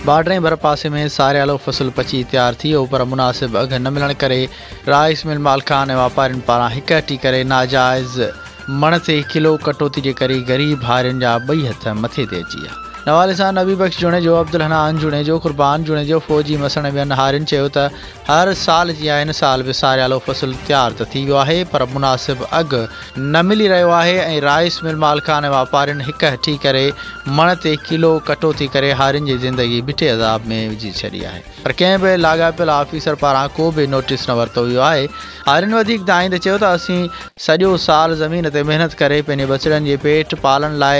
باڊرين ڀرپاسي ۾ ساريالو فصل پچي تيار ٿي ويو پر مناسب اگهه نه ملڻ ڪري رائيس مل مالڪان ۽ واپارين پاران هڪهٽي ڪري ناجائز مڻ تي ڪلو ڪٽوتي جي ڪري غريب هارين جا ٻئي هٿ مٿي تي اچي ويا. نوالي سان نبي بخش جوڻيجو، عبدالحنان جوڻيجو، قربان جوڻيجو، فوجي مسڻ ۽ ٻين هارين چيو ته هر سال جيان هن سال به ساريالو فصل تيار ته ٿي ويو آهي پر مناسب اگهه نه ملي رهيو آهي ۽ رائيس مل مالڪان ۽ واپارين هڪ هٺي ڪري مڻ تي ڪلو ڪٽوتي ڪري هارين جي زندگي بٺي عذاب ۾ وجهي ڇڏي آهي پر ڪنهن به لاڳاپيل آفيسر پاران ڪو به نوٽيس نه ورتو ويو آهي هارين وڌيڪ دانهين ته چيو ته اسين سڄو سال زمين تي محنت ڪري پنهنجي ٻچڙن جي پيٽ پالڻ لاء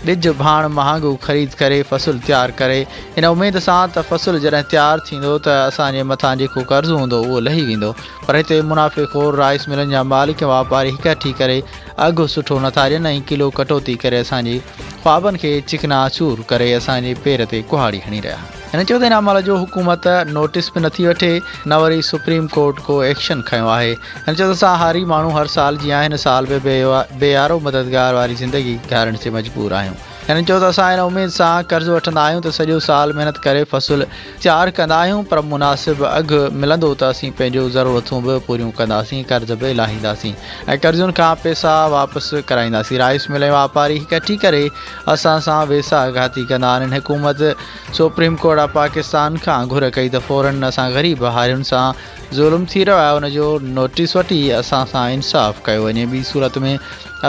ٻج ڀاڻ مهانگو خريد ڪري فصل تيار ڪري ان اميد سان ته فصل جڏهن تيار ٿيندو ته اسان جي مٿان جيڪو قرض هوندو اهو لهي ويندو پر هتي منافعي خور رائس ملن جا مالڪ واپاري هڪهٺي ڪري اگهه سٺو نٿا ڏين ۽ ڪلو ڪٽوتي ڪري اسان جي خوابن کي چڪنا چور ڪري اسان جي پير تي ڪهاڙي هڻي رهيا هن چيو ته ان عمل جو حڪومت نوٽيس به نٿي وٺي نه وري سپريم ڪورٽ ڪو ايڪشن کنيو آهي. هن چيو ته اسان هاري ماڻهو هر سال جيان هن سال به بي يارو مددگار واري زندگي گهارڻ تي مجبور آهيون. هن چيو ته اسان ان اميد سان قرض وٺندا آهيون ته سڄو سال محنت ڪري فصل تيار ڪندا آهيون پر مناسب اگهه ملندو ته اسين پنهنجو ضرورتون به پوريون ڪنداسين قرض به لاهينداسين ۽ قرضين کان پيسا واپس ڪرائينداسين رائيس مل ۽ واپاري هڪ ٺي ڪري اسان سان ويساهه گهاتي ڪندا آهن حڪومت سپريم ڪورٽ آف پاڪستان کان گهر ڪئي ته فورن اسان غريب هارين سان ظلم ٿي رهيو آهي ان جو نوٽيس وٺي اسان سان انصاف ڪيو وڃي ٻي صورت ۾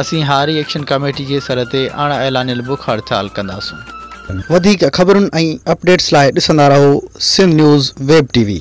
اسين هاري ايڪشن ڪميٽي جي سر تي اڻ اعلانيل بک هڙتال ڪنداسون. وڌيڪ خبرن ۽ اپڊيٽس لاء ڏسندا رهو Sindh news web TV V.